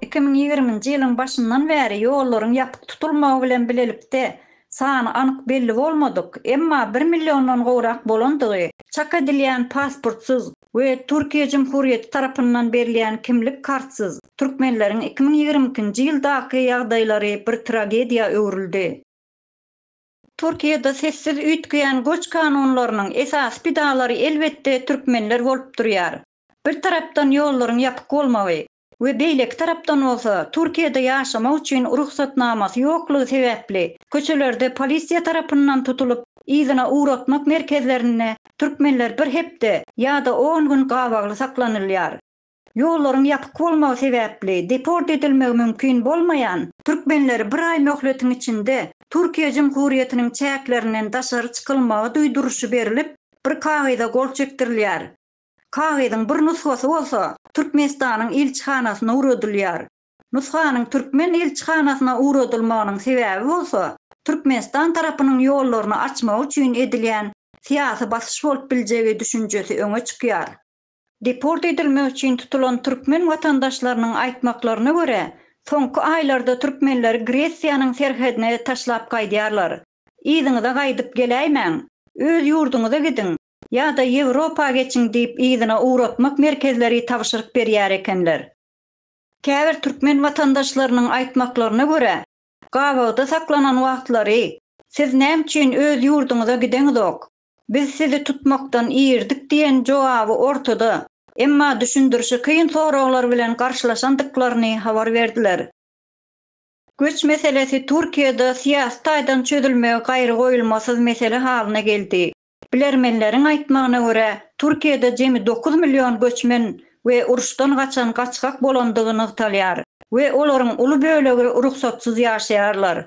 Iki müň ýigriminji ýylyň başyndan bäri ýollaryň ýapyk tutulmagy bilen bilelikde sany anyk belli bolmadyk, emma bir milliondan gowrak bolandygy çak edilýän pasportsyz we Türkiýe Jumhurýeti tarapyndan berilýän kimlik kartsyz türkmenleriň iki müň ýigrimi ikinji ýyldaky ýagdaýlary bir tragediýa öwrüldi. Türkiýede sessiz üýtgeýän göç kanunlarynyň esasy pidalary elbetde türkmenler bolup durýar. Bir tarapdan ýollaryň ýapyk bolmagy we beýleki tarapdan bolsa Türkiýede ýaşamak üçin rugsatnamasy ýoklugy sebäpli köçelerde polisiýa tarapyndan tutulyp yzyna ugratmak merkezlerinde türkmenler bir hepde ýa-da on gün gabagly saklanylýar. Ýollaryň ýapyk bolmagy sebäpli deport edilmegi mümkin bolmaýan türkmenleri bir aý möhletiň içinde Türkiýe Jumhuriýetiniň çäklerinden daşary çykylmagy duýduryşy berilip, bir kagyza gol çekdirilýär. Kagyzyň bir nusgasy bolsa Türkmenistanyň ilçihanasyna ugradylýar. Nusganyň türkmen ilçihanasyna ugradylmagynyň sebäbi bolsa Türkmenistan tarapynyň ýollaryny açmagy üçin edilýän syýasy basyş bolup biljegi düşünjesi öňe çykýar. Deport edilmek üçin tutulan türkmen watandaşlarynyň aýtmaklaryna görä, soňky aýlarda türkmenleri Gresiýanyň serhedine taşlap gaýdýarlar. Yzyňyza gaýdyp geläýmäň, öz ýurduňyza gidiň ýa-da Ýewropa geçiň diýip yzyna ugratmak merkezleri tabşyryk berýär ekenler. Käbir türkmen watandaşlarynyň aýtmaklaryna görä, gabawda saklanan wagtlary, Siz näme üçin öz ýurduňyza gideňizok? Biz sizi tutmakdan irdik diýen jogaby ortada, emma düşündirişi kyn soraglar bilen garşylaşandyklaryny habar berdiler. Göç meselesi Türkiýede syýasy taýdan çözülmegi gaýrygoýulmasyz mesele halyna geldi. Bilermenleriň aýtmagyna görä, Türkiýede jemi dokuz million göçmen we uruşdan gaçan gaçgak bolandygy nygtalýar we olaryň uly bölegi rugsatsyz ýaşaýarlar.